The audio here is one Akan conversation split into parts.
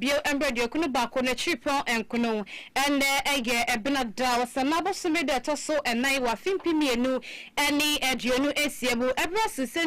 Bio mbrɛ duokunu baako n'ekyirpɔn nkono. Ndɛ yɛ Benada, Ɔsannaa abosome da ɛtɔ so nan wɔ afe mpem mmienu ne aduonu esia mu. Ɛberɛ a seesei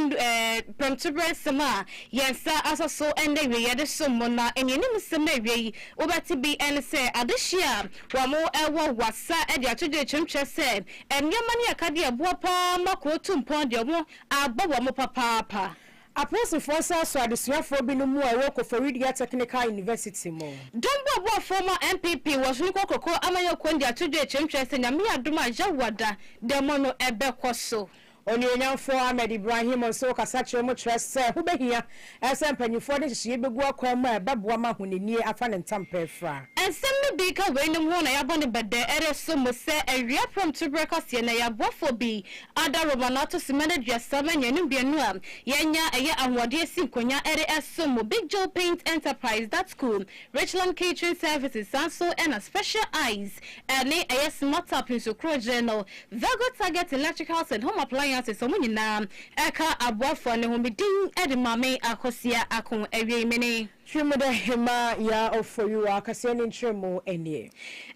prɛmtoberɛ nsɛm a yɛn nsa asɔ so nna awieeɛ yɛde som mo na nnianim nsɛm a ɛwia yi wobɛte bi ne sɛ adehyeɛ a wɔwɔ wasa de ato dwa atwam kyerɛ sɛ nneɛma ne akadeɛ ɛboa paa ma kuro tu mpɔn deɛ wɔabɔ wɔn papaapa. Apolisifoɔ nsa asɔ adesuafoɔ binom mu a ɛwɔ Koforidua Technical University mu. Dɔm bu aboafoɔ mu a NPP wɔ Soronko Koko amanyɔkuo no de ato dwa akyerɛm kyerɛ sɛ Nyame yɛ adom a Yawah da dɛmɔ no ɛbɛkɔ so. Onionyamfoɔ Ahmed Ibrahim nso kasa kyerɛ mu kyerɛ sɛ ho bɛhia sɛ mpanyinfoɔ de nhyehyeɛ bɛgu akwan mu a ɛbɛboa ma ahonanie afa ne ntam pɛɛ fra. Nsɛm no bi ka weinom ho na yɛabɔ no bɛdɛɛrɛ so mu sɛ awia prɔmtoberɛ kaseɛ na yɛaboafoɔ bi Adaworoma no ato simma aduasa ma nnuanu mmienu a yɛanya yɛ ahoɔden asi nkonwa de som mo, Big Joe Paint Enterprise, Datku, Richland Catering Services, saa nso na Special Eyes ne ɛyɛ Smart Up nso korogye no, Virgo Target Electricals and Home Appliances, wɔn nyinaa ka aboafoɔ no ho. Me din de Maame Akosua Ako Awiemene. Hwɛ mu dɛ hɛmba yɛ ɔfɔwi wɔ akasɛɛ ne nkyerɛmu nie.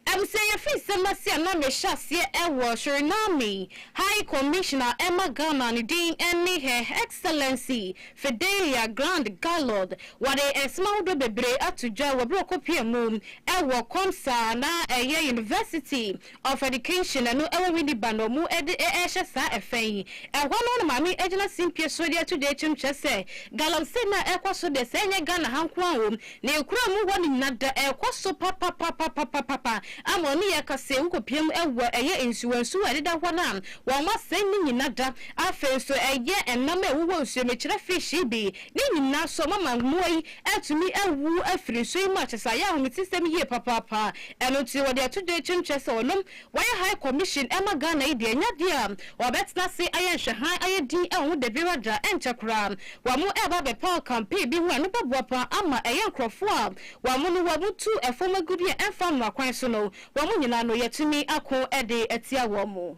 Abusuanyɛ firi nsɛm ase a na mehyɛ aseɛ wɔ Suriname High Commission a ɛma Ghana ne din ne Her Excellency Fidelia Grande Gallord wɔde nsɛm ahodoɔ bebree ato dwa wɔ berɛ a ɔkɔpia mu wɔ COMSA a na ɛyɛ University Of Education, ɛno ɛwɔ Winneba na ɔmo ɛde ɛɛhyɛ saa ɛfɛ yi. Ɛhɔ no na maame ɛgyina simpie so ɛde ato dee kyem kyerɛ sɛ galamsey no a ɛɛkɔ so deɛ sɛ ɛnyɛ Ghana ha nko ara wom, na ekura mu hɔ no nyina da ɛɛkɔ so papapapapapapa ama ɔne yɛ ka sɛ wokopiam ɛwɔ ɛyɛ nsuwansuwa a ɛdeda hɔ no a wɔn asɛe no nyina da. Afei nso ɛyɛ ɛnam a ɛwowɔ nsuo mekyerɛ fish yi bi ne nyina so mama mmoa yi atumi awu afiri nsuo yi mu a kyerɛ sɛ ayɛ ahometesɛm yie papaapa. Ɛno nti wɔde ato dwa akyire no kyerɛ sɛ wɔnom wɔyɛ High Commission ma Ghana yi deɛ ɛnyɛ adeɛ a wɔbɛtena ase ayɛ nhwɛhan ayɛ din wɔ ho Dabi Radra ɛnkyɛ koraa wɔɛba abɛpa ɔkampee bi ho a ɛno bɛboa paa ama ɛyɛ nkorɔfoɔ a wɔn no wɔn tu fam agudeɛ ɛmfa mmara kwan so no wɔn nyinaa no yɛatumi ako de atia wɔn.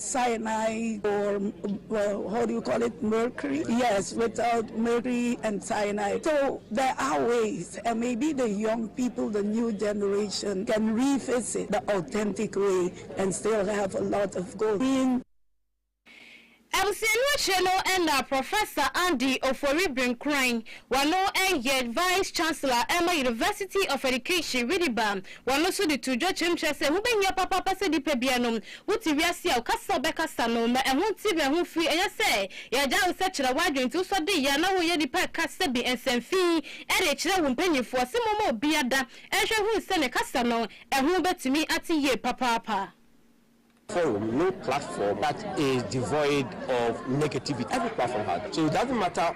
Cyanide or how do you call it mercury yes without mercury and cyanide so there are ways and maybe the young people the new generation can revisit the authentic way and still have a lot of gold in Abusuani akyire no na Professor Andy Ofori Brinkuran, wɔno yɛ Vice Chancellor ma University of Education Winneba, wɔno nso de too dwa kyerɛm kyerɛ sɛ ɛho bɛhia papaapa sɛ nnipa bianom Wote wiase a woka sɛ wobɛkasa no, ma ɛho nte were ho mfiri. Ɛnyɛ sɛ yɛagyae wo sɛ kyerɛ w'adwene nti wosɔ de yɛ a na woyɛ nipa ɛka sɛ bi nsɛm fi ɛrekyerɛ wo mpanyimfo ase momma obia da nhwɛ nhunu sɛ ne kasa no ɛho bɛtumi ate yie papaapa. Forum no platform that is devoid of negativity every platform has so it doesn't matter.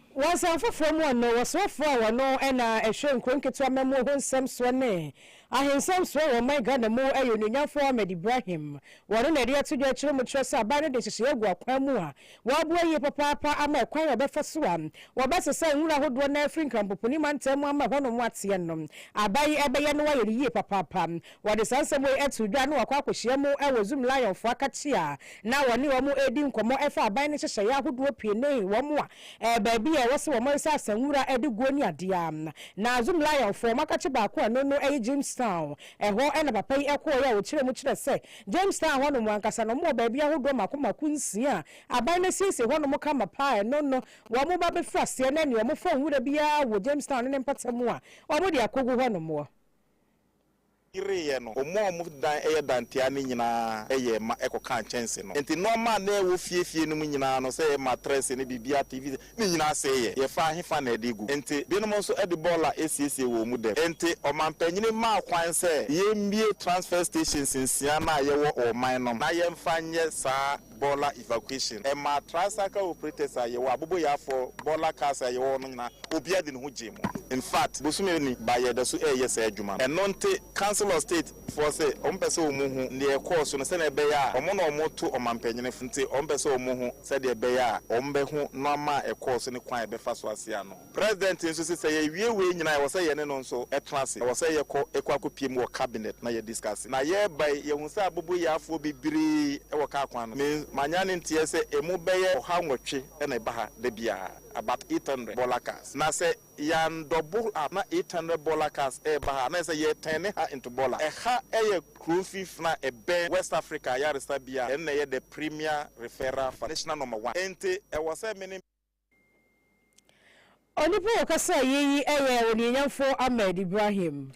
Wɔ nsɛm foforɔ mu no, wɔsrɛfoɔ a wɔno na ɛhwɛ nkuro nketewa amammuo ho nsɛm soɔ ne ahensɛm soɔ wɔ ɔman Ghana mu yɛ Onuonyamfoɔ Ahmed Ibrahim. Wɔno na ɛde ato dwa akyire mu kyerɛ sɛ aban no de nhyehyɛeɛ agu akwan mu a wɔaboa yie papaapa ama ɛkwan a wɔbɛfa so a wɔbɛsesa nwura ahodoɔ no ara afiri Nkrampopuni mantam mu ama ɛhɔnom ateɛ no aban yi ɛbɛyɛ no ayɛ no yie papaapa. Wɔde saa nsɛm wei too dwa na wɔakɔ akɔhyia mu wɔ Zoom Lionfoɔ akakyia a na wɔne wɔn redi nkɔmmɔ fa aban no nhyehyɛeɛ ahodoɔ pii ne wɔn a baabi a ɛwɔ sɛ wɔresɛ asanwura de guo ne adeɛ a na Zoom Lionfoɔ wɔn akakye baako a ɛno no yɛ Jamestown. Ɛhɔ na papa yi kɔeɛ a ɔkyerɛɛ mu kyerɛ sɛ Jamestown hɔnom ankasa no wɔwɔ baabi ahodoɔ mako mako nsia a aban no asiesie hɔnom kama pa a ɛno no wɔn ba bɛfiri aseɛ na ɛneɛ wɔmfa nwura biara wɔ Jamestown ne ne mpatamu a wɔde akɔgu hɔnom. yereeɛ no, wɔn a wɔdan yɛ dantea no nyinaa yɛɛ ma ɛkɔkaa kyɛnse no. Enti nnoɔma a na ɛwɔ fie fie no mu nyinaa no, sɛ matrɛse ne biribiara, TV sɛt, ne nyinaa sɛeɛ. Yɛfaa hefa na ɛde gu? Enti binom nso de bɔɔla siesiee wɔn mu dɛm. Enti ɔmampanin maa kwan sɛ yɛmmue transfer stations nsia no a yɛwɔ wɔ ɔman no mu na yɛmfa nyɛ saa Bola evacuation ɛmaa tricycle operators a yɛwɔ aboboyafoɔ Bola cars a yɛwɔ hɔ no nyinaa obiara de ne ho gyee mu in fact bosome ni ba yɛda so ɛɛyɛ saa adwuma no ɛno nte council of state foɔ se wɔn pɛ sɛ wɔn hu neɛ ɛkɔɔ so no sɛdeɛ ɛbɛyɛ a wɔn na wɔn to ɔmampanyini foɔ nti wɔn pɛ sɛ wɔn hu sɛdeɛ ɛbɛyɛ a wɔn bɛ ho noama a ɛkɔɔ so ne kwan a yɛbɛfa so aseɛ ano. President nso se sɛ yɛwie wei nyinaa a ɛwɔ sɛ yɛne no nso tra ase. Ɛwɔ sɛ yɛkɔ ɛkɔ akɔpie mu wɔ cabinet na yɛ discuss. Na yɛreba yi, yɛhu sɛ aboboyafoɔ bebree wɔ car kwan no. Me manya ne nteɛ sɛ ɛmu bɛyɛ ɔha nwɔtwe na ɛba ha da biara, about 800 bola cars. Na sɛ yɛan double up na 800 bola cars reba ha a, na ɛsɛ sɛ yɛ turn ha into bola. Ɛha yɛ kuro mfinfin a ɛbɛn West Africa ayaresabea a ɛno na ɛyɛ the premier referral for national number one. Enti ɛwɔ sɛ me ne. Onipa a ɔkasaa eyi yi yɛ Onuonyamfo Ahmed Ibrahim.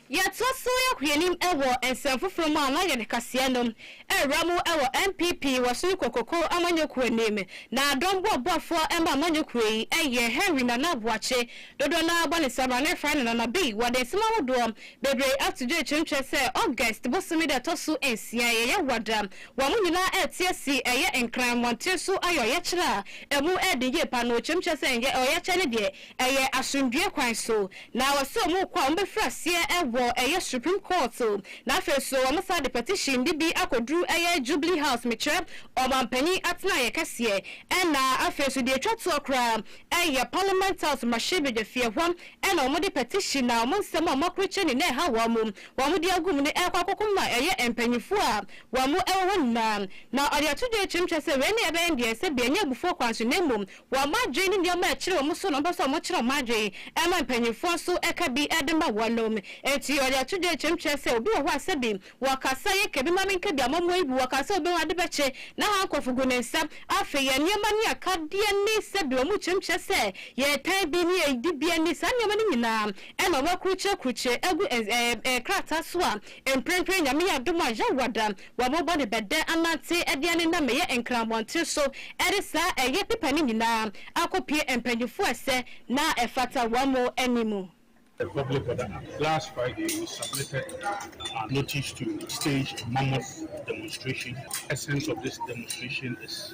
Yɛtoa so yɛ hwehwɛnim wɔ nsɛm foforo mu a na yɛde kaseɛ no rewura mu wɔ NPP Wasuni Kokoko amanyɔkuo anim. N'adɔm boaboafoɔ ma amanyɔkuo yi yɛ Henry Nana Aboakye, dodoɔ no ara bɔ ne saa berɛ a na yɛfrɛ no Nana B. Wɔde nsɛm ahodoɔ bebree ato dwa kyerɛkyerɛ sɛ August bosome da a ɛtɔ so nsia yi yɛ Wada Wɔn nyinaa rete asi ɛyɛ Nkran mmɔnten so ayɛ ɔyɛkyerɛ a emu yɛ den yie pa no. Wɔkyerɛm kyerɛ sɛ ɛnyɛ ɔyɛkyerɛ no deɛ, ɛyɛ asomdwoeɛ kwan so. Na wɔse wɔn rekɔ a wɔbɛfiri aseɛ wɔ ɛyɛ Supreme Court. Na afei nso wɔn san de petition de bi akɔduru ɛyɛ Jubilee House, mekyerɛ Ɔmanpanin atenaeɛ kɛseɛ. Ɛna afei nso deɛ ɛtwa toɔ koraa ɛyɛ Parliament House mmarahyɛbadwafie, ɛhɔ na wɔde petition a wɔn nsɛm a wɔakorokyɛ no na ɛha wɔn. Wɔde agu mu no rekɔ akɔko ma ɛyɛ mpanyimfo a wɔn bo wɔ hɔ nyinaa. Na ɔde ato dwa akyerɛm kyerɛ sɛ wei na ɛbɛyɛ deɛ sɛbi ɛnyɛ abufuo kwan so na mmom wɔn adwene ne nneɛma a ɛkyere wɔn so na wɔpɛ sɛ wɔkyerɛ wɔn adwene ɛma mpanyimfoɔ nso ɛka bi de ma wɔn. Enti ɔde ato dwa akyerɛm kyerɛ sɛ obi wɔ hɔ a sɛbi wɔkasa yɛ ka bi ma menka bi ama moayi bi wɔ ka sɛ obehu ade bɛkye na ha nkorɔfo gu ne nsa afei yɛn nneɛma ne akadeɛ ne sɛbi wɔn kyerɛm kyerɛ sɛ yɛtan bi ne yɛn dibea ne saa nneɛma no nyinaa Ɛnna wɔakurukyerɛkurukyerɛ agu ɛn ɛɛ ɛɛ krataa so a mprempren Nyame yɛ adom a yɛawo ada wɔabobɔ ne bɛdɛ anante de anenam ɛyɛ Nkran mmɔnten so de saa ɛyɛ pepa no nyinaa akɔpue mpanyimfo a ɛsɛ na ɛfata wɔn mo anim. The public order act. Last Friday we submitted our notice to stage mammoth demonstration. Essence of this demonstration is.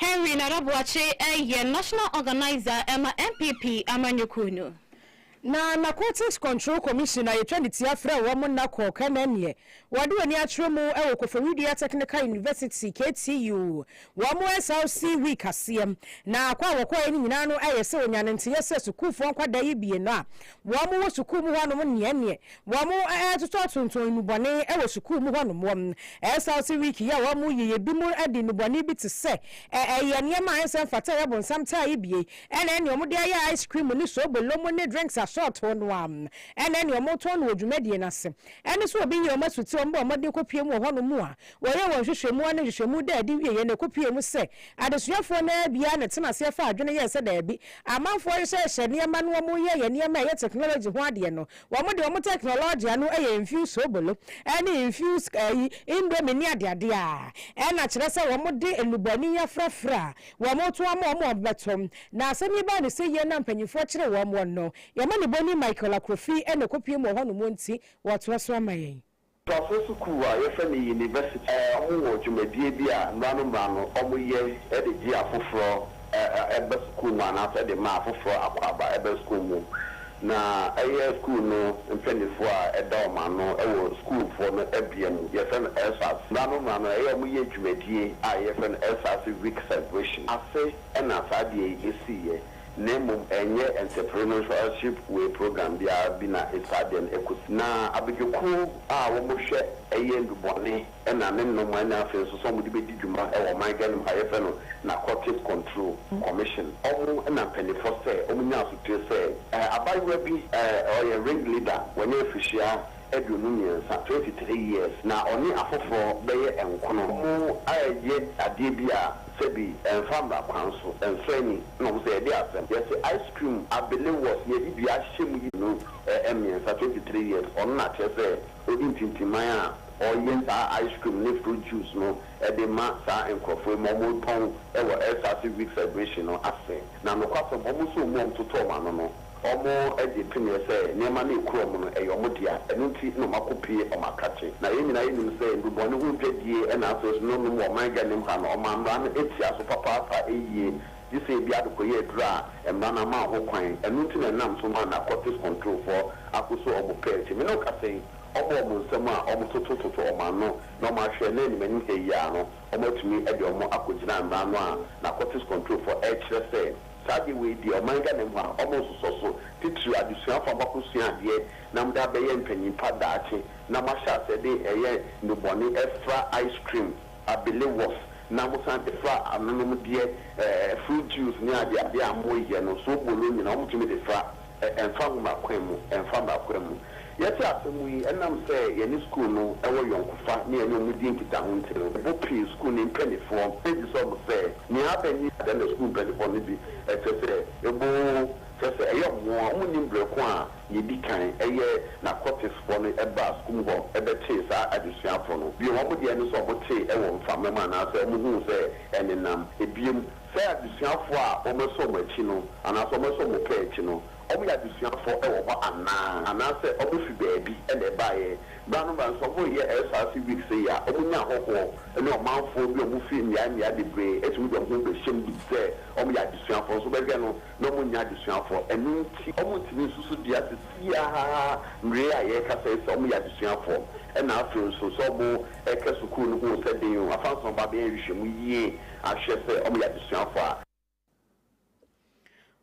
Henry Nana Boakye yɛ National Organiser ma NPP amanyɔkuo no. Na Narcotics Control Commission a yɛtwa ne tia frɛ wɔn nna kɔ Kɛnɛneɛ, wɔde wɔn ani akyerɛ mu wɔ Koforidua Technical University, KTU, wɔn SRC week aseɛ. Na kɔ a wɔkɔeɛ no nyinaa no yɛ sɛ wɔnya no nteeɛ sɛ sukuufoɔ nkwadaa yi bienu a wɔwɔ sukuu mu hɔnom nneɛnneɛ Wɔretotɔ tonton nnubɔne wɔ sukuu mu hɔnom. Wɔresaw se wiki yi a wɔreyɛ yi bi mu de nnubɔne bi te sɛ ɛyɛ nneɛma a ɛnsɛ mfata a ɛyɛ bonsam taa yi bi ne nea wɔde ayɛ ice cream ne sobo lom ne drinks asɔɔtoo no ara ne nea wɔretɔn no wɔ dwumadie no ase ne nso obi yɛ wɔn asuti a wɔbɔ mmɔden kɔpue mu wɔ hɔnom a wɔyɛɛ wɔn nhwehwɛmu ne nhwehwɛmu daa adi wieeɛ no ɛkɔpuee mu sɛ adesuafoɔ no ara biara na ɛtena aseɛ faa adwene yɛɛ sɛ daabi amanfoɔ hyehyɛhyehyɛ nneɛma no wɔreyɛ yɛ nneɛma a ɛyɛ technology ho adeɛ no Wɔde wɔn tɛknologia no yɛ mfew soobolo ne mfew ayi indomie ne adeade a ɛna kyerɛ sɛ wɔde nnubɔne afrafra a wɔto ama wɔn a wɔbɛto. Na asɛm yi baa no sɛ yie na mpanyimfoɔ kyeree wɔn wɔn no, yɛn mmanibɔni Michael Akrofi na ɛkɔpuem wɔ hɔnom nti wɔtoa so ama yɛn. Ntoasoɔ sukuu a yɛfrɛ no University. Wɔn wɔ dwumadie bi a mmra no mmra no wɔn yɛ de gye afoforɔ ba sukuu mu anaa sɛ de ma afoforɔ akwaaba ba sukuu mu. Na ɛyɛ sukuu no mpaninfoɔ a ɛda wɔn ano wɔ sukuufoɔ no bea mu. Yɛfrɛ no Ersatz. Mmra no mmra no ɛyɛ wɔn yɛ dwumadie a yɛfrɛ no Ersatz week celebration ase na saa adeɛ yi sii yɛ. Na mmom ɛnyɛ nsɛpɛre no nhwɛanship wei program biara bi na ɛsaa deɛ no ɛkɔ si. Na abadwokuo a wɔhwɛ ɛyɛ ndubɔne ɛna ne nnomaa nyinaa afei nso sɛ wɔn de bɛdi dwuma ɛwɔ ɔman Ghana mu ha yɛfrɛ no Narcotics Control Commission wɔn ɛna mpanyinfoɔ sɛ wɔn nya asoteɛ sɛ ɛɛ abaayewa bi ɛɛ ɔyɛ ring leader wɔnyɛ afihyia aduonu mmiɛnsa, twenty three years, na ɔne afoforɔ bɛyɛ nkono. Wɔayɛ adeɛ bi a sɛbi ɛmfa mmara kwan so, nsɛe ni, ɛna wɔn sɛ yɛde asɛm. Yɛse ice cream abelewɔs yɛde bi ahyɛ mu yi. No mmiɛnsa, twenty three years, ɔno na kyerɛ sɛ ɔdi ntintiman a ɔyɛ saa ice cream ne fruit juice no de ma saa nkorɔfoɔ yi ma wɔtɔn wɔ Ersase Week celebration no ase. Na nokwasɛm, wɔn nso wɔn mu a wɔtoto wɔn ano no. Wɔagye tomeɛ sɛ nneɛma no a ɛkura wɔn no, ɛyɛ wɔn dea. Ɛno nti na wɔakɔpue wɔn akakye. Na yɛn nyinaa nim sɛ nnubɔne ho dwadie na afei so nonom wɔ ɔman Ghanem ha no, wɔmaa mmara no tia so papaapa yie, gye sɛ ebi adekɔyɛ aduru a mmara no amma ho kwan. Ɛno nti na ɛnam so ma narcotics controlfoɔ akɔsɔ wɔn pɛ akyi. Me ne wo kasa yi, wɔbɔ wɔn nsam a, wɔtotototo wɔn ano, na wɔahwɛ nnɛ animanim ha yi ara no, wɔatumi de wɔn akɔgyina mmara no a narcotics controlfoɔ rekyerɛ sɛ Saa adeɛ wei deɛ ɔman Ghana mu ha ɔmo nsosɔ so, titiriw adesuafo a mo akosua adeɛ na mode abɛyɛ mpanyin pa daakye na mo ahyɛ aseɛ de ɛyɛ nnubɔne ɛfra ice cream, abelewɔs na mo san de fra anonomdeɛ ɛɛ fruit juice ne adeade a mo yɛ no, soobolo nyinaa ɔmo tumi de fra. Ɛmfa ho m'akwan mu, ɛmfa m'akwan mu. Yɛte asɛm yi, ɛnam sɛ yɛne sukuu no wɔ yɔnkofa ne yɛne wɔn di nkitaho nti no, ɛbɔ pii sukuu no mpanimfoɔ gye sɛ wɔn sɛ nea aba ni. Dɛn na sukuu mpanimfoɔ no de kyerɛ sɛ ɛbɔ oo, kyerɛ sɛ ɛyɛ wɔn nwonwa? Wɔnnim berɛ ko a nea ɛdi kan yɛ Narcoticsfoɔ no baa sukuu mu hɔ bɛkyee saa adesuafoɔ no. Bio, wɔn deɛ ne sɛ wɔtee wɔ mframa mu anaasɛ wɔhuu sɛ ɛnenam ebiem Sɛ adesuafo a wɔasɔ wɔn akyi no anaasɛ wɔasɔ wɔn pɛɛ akyi no, wɔyɛ adesuafo wɔ hɔ anaa, anaasɛ wɔfi baabi na ɛbaeɛ. Berɛ ano berɛ ano nso, wɔreyɛ SRC Week sei a, wɔnya ahɔhoɔ ne ɔmanfoɔ bi a wɔfiri mmeaeɛ mmeaeɛ bebree tumi de wɔn ho bɛhyɛm gye di sɛ wɔyɛ adesuafoɔ nso. Wobɛhwɛ no na wɔnyɛ adesuafoɔ. Ɛno nti, wɔntumi nso so dua seesei ara mmerɛ a yɛrekasa yi sɛ wɔyɛ adesuafoɔ. Ɛnna afei nso, sɛ wɔrekɔ sukuu no ho sɛ den o, afa nso na wɔba abɛyɛ nhwehwɛmu yie ahwɛ sɛ wɔyɛ adesuafo a.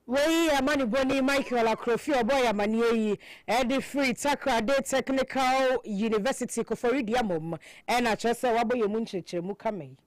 Wei yɛ amanebɔni Michael Akorofie a ɔbɔɔ yɛn amanneɛ yi de firi Takoradi Technical University, Kofori Duamom, ɛna kyerɛ sɛ wabɔ yɛn mu nkyerɛkyerɛmu kama yi.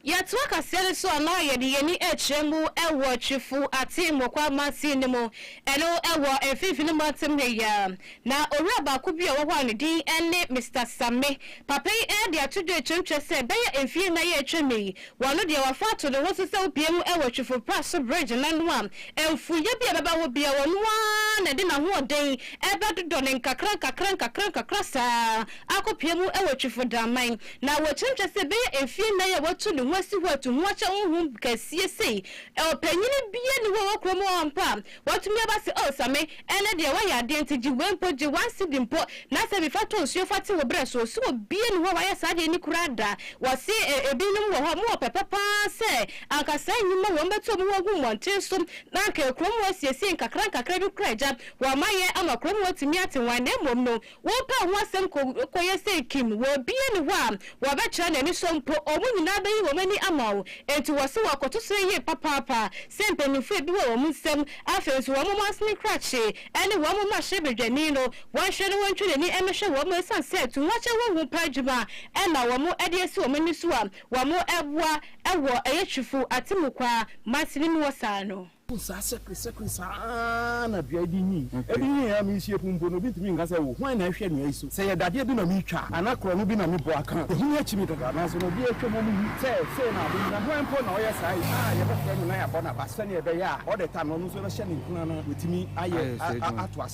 Yɛtoa kaseɛ no so a na yɛde yɛn ani rekyerɛ mu wɔ Twifo Atem Mokwa Mansin no mu, ɛno wɔ Mfinfini Mantam ha yi ara. Na owura baako bi a ɔwɔ hɔ a ne din ne Mister Samme. Papa yi de ato dwa atwam kyerɛ sɛ ɛbɛyɛ mfeɛ nnan a atwam yi, wano deɛ wafa ato ne ho so sɛ wobue mu wɔ Twifo-Praso Bridge no ano a, mfuiɛ bi a ɛbɛba hɔ biara ɔno ara na ɛde n'ahoɔden bɛdodɔ no nkakrankakra nkakrankakra saa ara akɔpue mu wɔ Twifo Daman. Na wɔkyerɛm kyerɛ sɛ ɛbɛyɛ mfeɛ nnan a watu ne ho asi hɔ atu ho akyɛ honhom kɛseɛ sei. Ɔpanyin biara nni hɔ a ɔwɔ kurom hɔ ampa a Watumi aba se, Oh, sa me, ɛnnɛ deɛ woayɛ adeɛ nti, gye wei mpo, gye one cedi mpo, na sɛ bi fa tɔ nsuo fa te wo berɛ so. Ɔse obia nni hɔ a wayɛ saa adeɛ ni koraa da. Wɔse ebinom wɔ hɔ a mowɔ pɛpɛ pa ara sɛ anka saa nnwuma wei wɔbɛto wɔn ho agu mmɔnten so na anka kuro mu asiesie nkakrankakra bi koraa agya wɔn ayɛ ama kuro mu atumi atewan, na mmom no, Wopɛ ho asɛm kɔyɛ sɛ kim wɔ obi ani hɔ a, wɔbɛkyerɛ no anisɔ mpo, wɔn nyinaa bɛyi wɔn ani ama wo. Enti wɔ se wɔkɔto so yie papaapa sɛ mpanyimfoɔ ebi wɔ wɔn nsam. Afei nso wɔn mansini krakye ne wɔn mmarahyɛbadwani no, wɔnhwɛ na wɔntwe n'ani mmɛhwɛ wɔn esiane sɛ to ho akyɛ honhom pa adwuma na wɔn de asi wɔn ani so a wɔboa wɔ Ayetrifo atemmu kwa mansini mu hɔ saa no. Wohu saa sɛkresɛkre saa ara na dua yi de nyin. Ebi nyin a merehyia mu mpo no, obi ntumi nka sɛ, 'O, hwan na ɛrehwɛ nnua yi so? Sɛ ɛyɛ dadeɛ bi na meretwa a, anaa korɔno bi na mebɔ aka a, ɛho akyi me dada. Nanso na obiara atwam a ɔrehu sɛ sei na ade yi. Na hwan mpo na ɔyɛ saa yi? A, yɛbɛfrɛ no na yɛabɔ no aba sɛnea ɛbɛyɛ a ɔda ta no, ɔno nso bɛhyɛ ne nkuran na watumi ayɛ ato ase.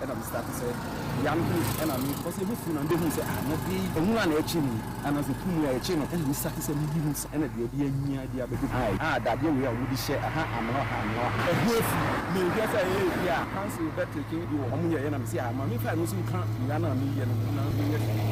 ɛna me starte sɛ bea no ho ɛna me kɔ sɛ mɛfu na me bɛhunu sɛ ah na bea yi ɛho a na ɛkye me anaasɛ tu mu a ɛkye no ɛna me starte sɛ me hunu sɛ ɛna baabi anyia de abɛdu ha yi ah dadeɛ wei a wɔn de hyɛ aha amena ɔha amena ɔha ɛho afi me hwɛ sɛ ɛyɛ ɛbi a council bɛ teke bi wɔ wɔn yɛ ɛna me se ah ma me fa ɛno nso nka bea no a me yɛ no ho na me yɛ hwɛ.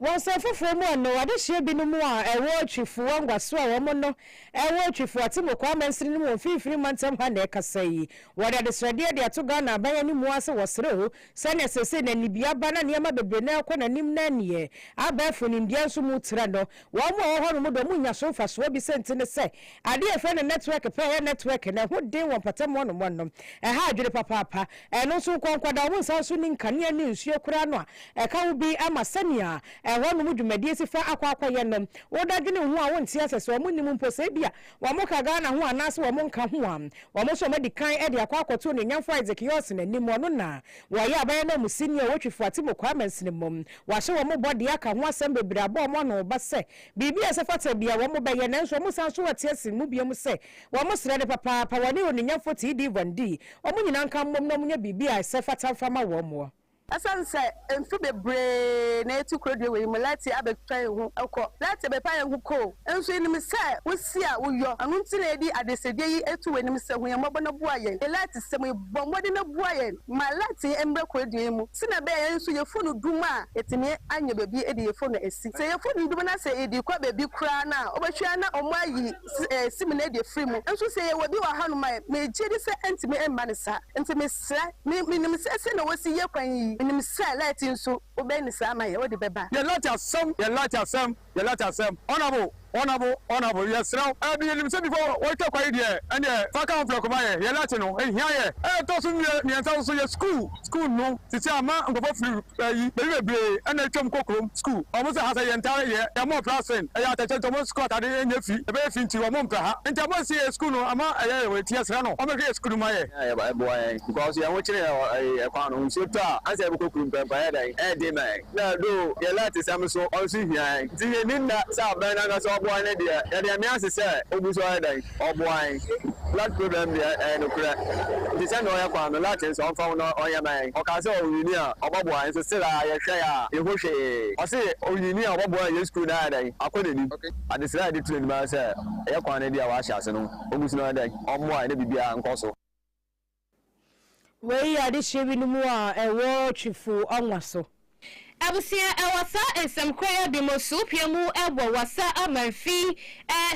Wɔ nsɛm foforɔ mu a no adehyeɛ binom a ɛwɔ Twifo Wanguaso a wɔn no ɛwɔ Twifo Atemmukwaa amansini no mu wɔ mfinfini mantam ha na ɛkasa yi. Wɔde adesrɛdeɛ de ato Ghana aban anim mu ara sɛ wɔsrɛ o sɛdeɛ seesei na anibia aba na nneɛma bebree no rekɔ n'anim na neɛ abɛɛfo nimdeɛ nso mu tra no Wɔn a wɔwɔ hɔnom dɔm nya so mfasoɔ bi sɛnti ne sɛ, adeɛ a yɛfrɛ no nɛtwɛk pɛ yɛ nɛtwɛk na ɛho den wɔ mpɔtam hɔnom hɔnom. Ɛha adwene papaapa. Ɛno nso nko nko da, wɔnsan nso nni nkanea ne nsuo koraa no a ɛka ho bi ma sɛnea ɛhɔnom dwumadie si fa akɔ akɔyɛ no. Woda dwene ho a wonte asɛ sɛ wɔn nnim mpo sɛ ebia wɔn ka Ghana ho anaase wɔn nka ho a. Wɔn nso wɔn adi kan de akɔ akɔto Onuonyamfoɔ Isaac Yorson anim, ɔno na Wɔayɛ aban ananmusini a wotwi fo Atim Kwame Nsenimom. Wɔahyɛ wɔn bɔ de aka ho asɛm bebree abɔ wɔn ano ba sɛ biribi a ɛsɛ fata bi a wɔbɛyɛ nanso wɔsan nso wɔte ase mu bio mu sɛ wɔn srɛ ne papaapa wɔne Onuonyamfo TD Van Dee wɔn nyinaa nka mmom na wɔnyɛ biribi a ɛsɛ fata mfa ma wɔn mmoa. Ɛsiane sɛ mfe bebree na eti korodua wɔ yi mu, Letty abɛtwa yɛn ho kɔ. Letty bɛpa yɛn ho koo. Nso yenim sɛ wo se a woyɔ, ɛno nti na yɛde adesedie yi to w'anim sɛ hu yɛn mmɔbɔ na boa yɛn. Elite sɛm yi, bɔ mmɔden na boa yɛn ma Elite yi mmrɛ kurodua yi mu sɛnea ɛbɛyɛ a yɛn nso yɛfo no dum a yɛtumi anya baabi de yɛfo no asi. Sɛ yɛfo no dum na sɛ yɛde kɔ baabi koraa no a, wobɛhwɛ ara na wɔayi sim no adi afiri mu. Nso sɛ yɛwɔ bi wɔ hanom a, megye di sɛ ɛntumi mma no saa. Nti mesrɛ, me, menim sɛ sɛnea wɔsi yɛ kwan yi, menim sɛ Elite yi nso wobɛyɛ no saa ama yɛn, wode bɛba. Yɛ Elite asɛm, yɛ Elite asɛm. Yɛ letter sɛm. Honourable, honourable, honourable, yɛsrɛ wo. Ɛɛ, yɛnim sɛ before wɔretwa kwae deɛ, ɛnneɛ fa ka ho prɛko ma yɛn. Yɛ letter no, ɛhia yɛn. Ɛna ɛtɔ so mmiɛ, mmiɛnsa nso yɛ school. School no, seesei ama nkurɔfoɔ firi ayi, baabi bebree na atwam kɔ kurom. School. Wɔn sɛ ha sɛ yɛn ntare yɛ, yɛn mmɔ mpra sɛn. Ɛyɛ atɛkyɛ nti wɔn school ataade nyɛ fi, ɛbɛyɛ fi nti wɔn mpɛ ha. Nti ama nsi yɛn school no, ama ɛyɛ yɛn wei nti yɛsrɛ no ɔmmɛhwɛ yɛn school no ma yɛn. Ɛboa yɛn because yɛn ho kyere yɛn wɔ ɛyi, ɛkwan no ho. Nsuo tɔ a, ansa yɛbɛkɔ kurom koraa mpo, ɛyɛ dɛn? Ɛyɛ den ma yɛn. Na though deɛ Lot sɛm nso ɔno nso hia yɛn nti yɛnni nna sɛ abɛn no ankasa ɔboa yɛn deɛ yɛde nyame ase sɛ ogu so ayɛ dɛn ɔboa yɛn Lot problem deɛ ɛyɛ nokorɛ nti sɛnea ɔyɛ kwan no Lot nso ɔmfa ho na ɔnyɛ ma yɛn ɔkaa sɛ ɔwini a ɔbɛboa yɛn nso still aa yɛhwɛ yɛ a yɛhu hwee ɔse ɔwini a ɔbɛboa yɛn yɛn school no ayɛ dɛn akɔ n'anim. Adesrɛ a yɛde to anim ara sɛ ɛyɛ kwan no deɛ wɔahyɛ ase no ogu so na ɔyɛ dɛn ɔmmoa yɛn na biribiara nkɔ so. Wei yɛ adesua bi no mu a ɛwɔ Twifo Ɔnwa so. Abusua a ɛwɔ saa nsɛm korayɛ bi mu suupie mu wɔ Wassa Amanfi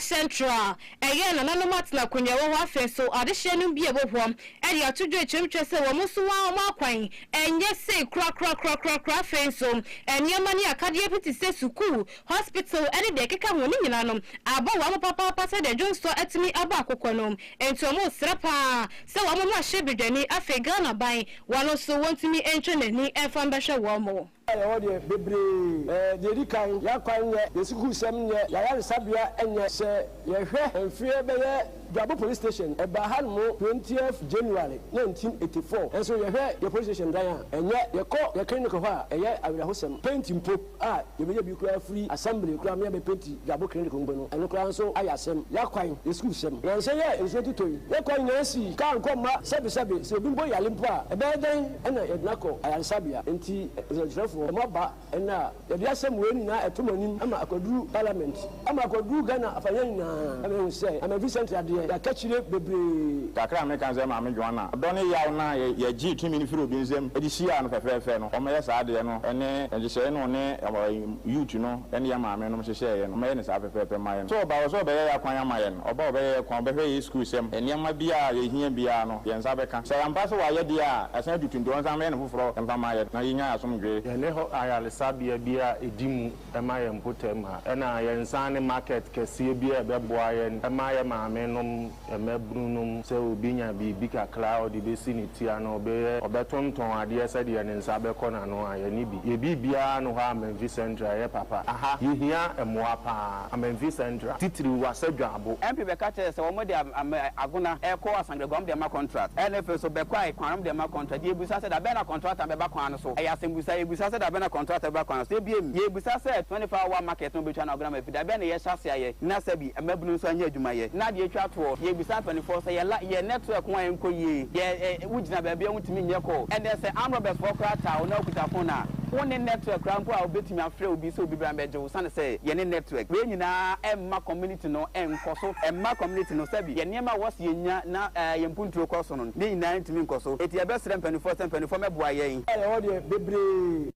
Central. Ɛyɛ nananom atenakonwa ɛwɔ hɔ afei nso adesua nom bi a ɛwɔ hɔ de ato dwa kyerɛm kyerɛ sɛ wɔn nso wɔn wɔn akwan ɛnyɛ sei korakorakorakorakora afei nso nneɛma ne akadeɛ bi te sɛ sukuu hospital ne deɛ ɛkeka ho no nyinaa no abɔ wɔn ano papaapa sɛdeɛ dwonsɔ atumi abɔ akokɔ no, enti wɔresrɛ pa ara sɛ wɔn ho ahyɛ badwani, afei Ghana ban, wɔn nso wɔntumi ntwe n'ani mfa mbɛhwɛ wɔn. A yɛwɔ deɛ bebree. Ɛɛ, deɛ ɛdi kan, yɛn akwan nyɛ, yɛn sukuusɛm nyɛ, yɛn ayaresabea nyɛ. Sɛ yɛhwɛ mfeɛ bɛyɛ Dwabo Police Station, ɛbaa hanom twentieth January nineteen eighty four, nso yɛhwɛ yɛn Police Station dan a, ɛnyɛ, yɛkɔ yɛn Clinic hɔ a, ɛyɛ awerɛhosɛm, paint mpo. A, yɛbɛyɛ bi koraa firi assembly koraa me a mɛ painti dwabo clinic mpo no ɛno koraa nso ayɛ asɛm yɛ kwan yɛ school sɛm nansa yi a nsuo totɔ yi yɛ kwan nyinaa si car nkɔ mma sɛbe sɛbe sɛ obi mpo yare mpo a ɛbɛyɛ dɛn ɛna yɛde no akɔ ayaresabea nti nsɛnkyerɛfoɔ mo aba ɛnɛ a yɛde asɛm wei nyinaa ɛto mo anim ama akɔduru parliament. Ama akɔduru Ghana afaeɛ nyinaa. Na mahu sɛ ama Vincent Yadeɛ yakakyire bebree. Kakra a meka ne sɛ Maame Joanna, ɔdɔ ne yaw no a yɛgyee tumi no firi obi nsam de hyiaa no fɛfɛɛfɛ no, wɔyɛ saa adeɛ no ne nhyehyɛeɛ no ɔne Youth no ne yɛn maame nom hyehyɛeɛ no, wɔyɛ no saa fɛfɛɛfɛ ma yɛn. So ɔba wɔ sɛ ɔbɛyɛ yɛn akwan ama yɛn? Ɔba ɔbɛyɛ yɛn kwan, ɔbɛhwɛ yɛn sukuusɛm, nneɛma biara a yɛhia biara no, yɛn nsa bɛka. Sɛ ampa sɛ wayɛ deɛ a, yɛasan atutu nti ɔnsan mmɛyɛ no foforɔ mfa mma yɛn na yɛnya yɛn asomdwoeɛ. Yɛne hɔ ayaresabea biara a ɛdi mu. ma yɛn mpɔtam ha, ɛna yɛnsan ne market kɛseɛ bi a ɛbɛboa yɛn ma yɛn maame nom, yɛn mmabunu nom, sɛ obi nya biribi kakra a ɔde bɛsi ne ti anaa ɔbɛyɛ, ɔbɛtontɔn adeɛ sɛdeɛ ne nsa bɛkɔ n'ano a, yɛne bi. Yɛn biribiara ne hɔ a Amanfi Central ɛyɛ papa. Aha yɛhia mmoa pa ara. Amanfi Central, titiriw Wasa Dwaabo. MP bɛka kyerɛɛ sɛ wɔde Agona rekɔ Angeguam deɛma kɔntrat ɛyɛ ne fɛ so bɛ kwae kwanrom deɛma kɔntrat deɛ ɛbusa sɛ da bɛn na kɔntrat a bɛba kwan no so ɛyɛ asɛmbusa yɛ busa sɛ da bɛn na kɔntrat a bɛba kwan no so ɛbiem yɛ busa sɛ 24 hour market no bɛtwa na ɔgena mafi da bɛn na yɛ hyɛ aseɛ ayɛ na sɛbi mmabunu nso anyɛ adwuma yɛ na deɛ ɛtwa toɔ yɛ busa mpaninfoɔ sɛ yɛ la yɛ nɛtrɛk ho a ɛnkɔ yie yɛ ɛ wo gyina baabi a wo ntumi nyɛ kɔ ɛnɛ sɛ amrɔbɛs foɔ koraa taa wo na wo kuta fon a wo nne nɛtrɛk koraa mpo a ɔbɛtumi afrɛ obi sɛ obi bra mbɛgye wo. Esiane sɛ yɛne network wei nyinaa ɛmma community no nkɔ so, ɛmma community no sɛbi yɛn nneɛma a wɔse yɛnya na yɛn mponturo kɔ so no ne nyinaa ntumi nkɔ so. Enti yɛbɛsrɛ mpaninfoɔ sɛ mpaninfoɔ mɛboa yɛn. A yɛwɔ deɛ bebree.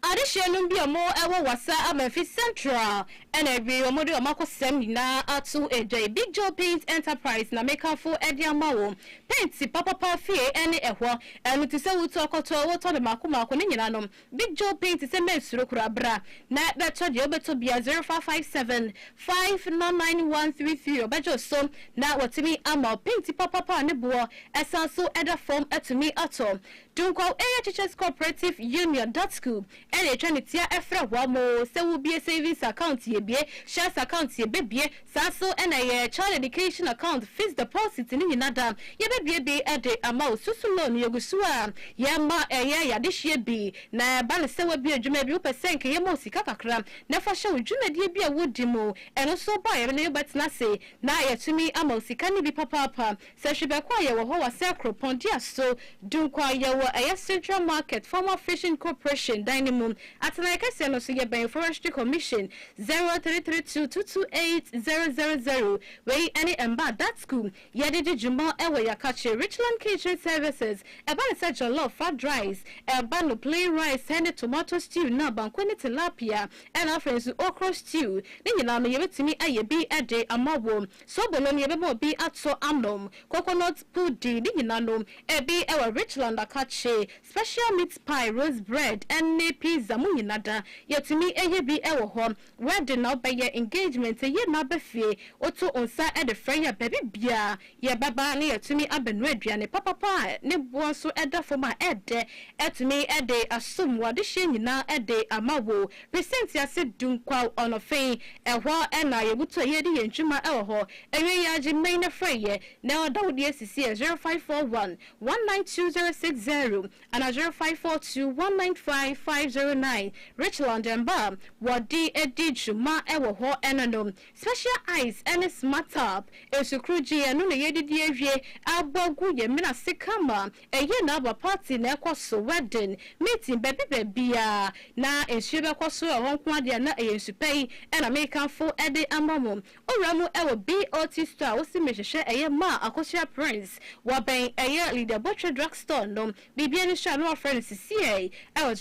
Adehyeɛ nom bi a wɔn wɔ Wassa Amanfi Central na awiei wɔn de wɔn akosɛm nyinaa ato gya yi. Big Joe Paint Enterprise na me ka fo de ama wo. Paint papapa fie ne ɛhɔ. Ɛno te sɛ wo tu akɔtɔ, wotɔ no mako mako, ne nyina nom. Big Joe Pay te sɛ Mɛsuro koraa Bra na bɛtɔ deɛ wobɛtɔ biara 0557 599133 Ɔbɛgye wo so na watumi ama wo Paint papapa a ne boɔ san so da fam atumi atɔ Dunkwaw Area Teachers Cooperative Union, Datsku, na ɛtwa ne tia Frɛ wɔn sɛ wobue savings account Yɛbue shares account Yɛbɛbue Saa nso na ɛyɛ Child Education Account, Fixed Deposit ne nyina da yɛbɛbuebue de ama wo. Susu loan yɛgu so a yɛma ɛyɛ y'adehyeɛ bi na ɛba no sɛ w'abue adwuma bi wopɛ sɛ nka yɛma wo sika kakra na fa hyɛ wo dwumadie bi a wodi mu. Ɛno nso ba a yɛne wo bɛtena ase na yɛatumi ama wo sika no bi papaapa Sɛ hwebɛkɔ a yɛwɔ hɔ wɔ sɛ kuropɔn dua so dunkwa a yɛwɔ ɛyɛ central market former fishing corporation dan no mu atenaeɛ kɛseɛ no so yɛ bɛn forestry commission zero three three two two two eight zero zero zero wei ne mmaa datsku yɛde di dwuma wɔ yakakye richland kitchen services ɛba ne sɛ jollof fried rice ɛba no plain rice ne tomato stew na banku ne tilapia ɛna afei nso okro stew ne nyinaa no yɛbɛtumi ayɛ bi de ama wɔ. Sobo nom yɛbɛma obi ato anom, coconut pudding, ne nyina nom, ɛbi wɔ Richland akakye, special meat pie, rose bread, ne pizza, mo nyina da, yɛtumi yɛ bi wɔ hɔ, wedding na wobɛyɛ, engagement, yɛyi mmaa ba fie, woto nsa de frɛ yɛn a, baabi biara yɛbɛba na yɛatumi abɛnoa aduane papapa a ne boɔ nso da fam a ɛyɛ dɛ, atumi de asom wo adehyeɛ nyina de ama wo. Pese ntease dum kwaw ɔnɔfe yi, ɛhɔ na yɛbutu a yɛredi yɛn dwuma wɔ hɔ. Awiei yi ara gye mmɛn no frɛ yɛ na ɔda wo deɛ sisi ɛ 0541 192060 anaa 0542 195509. Richland mma a wɔde di dwuma wɔ hɔ no no, Special Ice ne Smart Tap, nsukoro gin, ɛno na yɛdidi awie abɔ agu yɛn mene ase kama Ɛyɛ na aba party na ɛkɔ so wedding, meeting baabi baabiaa na nsuo bɛkɔ so ɛhɔ nko ara deɛ na ɛyɛ nsu pa yi na mekamfo de ama mo. Owura mu wɔ BOT store a wosi mehwehwɛ ɛyɛ maa Akosua Prince wɔ bɛn ɛyɛ Lydia Botwe drug store no biribiara ni so a na wafrɛ no sisiɛi wɔ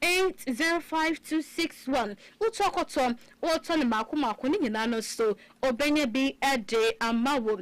0545805261 wotɔ kɔtɔ wotɔ no maako maako ne nyinaa no so obɛnya bi de ama wo.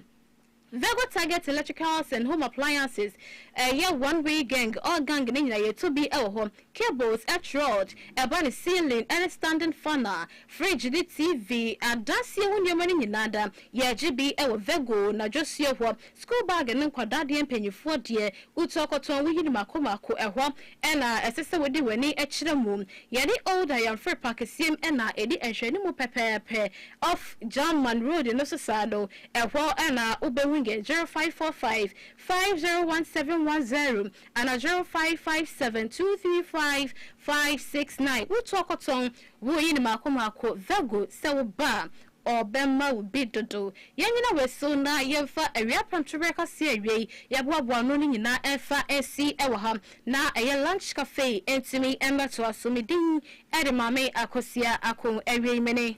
Vego Target Electricals and Home Appliances yɛ one way gang a gang ne nyinaa yɛtɔ bi wɔ hɔ, cables, earth rod, ɛba ne ceiling ɛne standing fan a, fridge ne TV, adansie ho nneɛma no nyinaa da yɛgye bi wɔ Vego na Dwosuo hɔ, school bag ne nkwadaa deɛ mpaninfoɔ deɛ wotu akɔtɔn woyi no mako mako ɛhɔ na ɛsɛ sɛ wode w'ani kyerɛ mu yɛne Old Ayamfre Park siem na ɛdi nhwɛanimu pɛpɛɛpɛ off German road no so saa no Ɛhɔ na wobɛhu yɛ 0545 501710 anaa 0557235569. Wotɔ kɔtɔn, woyi no mako mako, Virgo, sɛ woba a, ɔbɛma wo bi dodo. Yɛnnyina wei so na yɛmfa awia prɛmtoberɛ kaseɛ a ɛwei yɛboaboa ano no nyinaa mfa nsi wɔ ha na ɛyɛ Lunch Cafe ntumi mmɛtoa so. Me din de Maame Akosua Ako. Awiei, mene.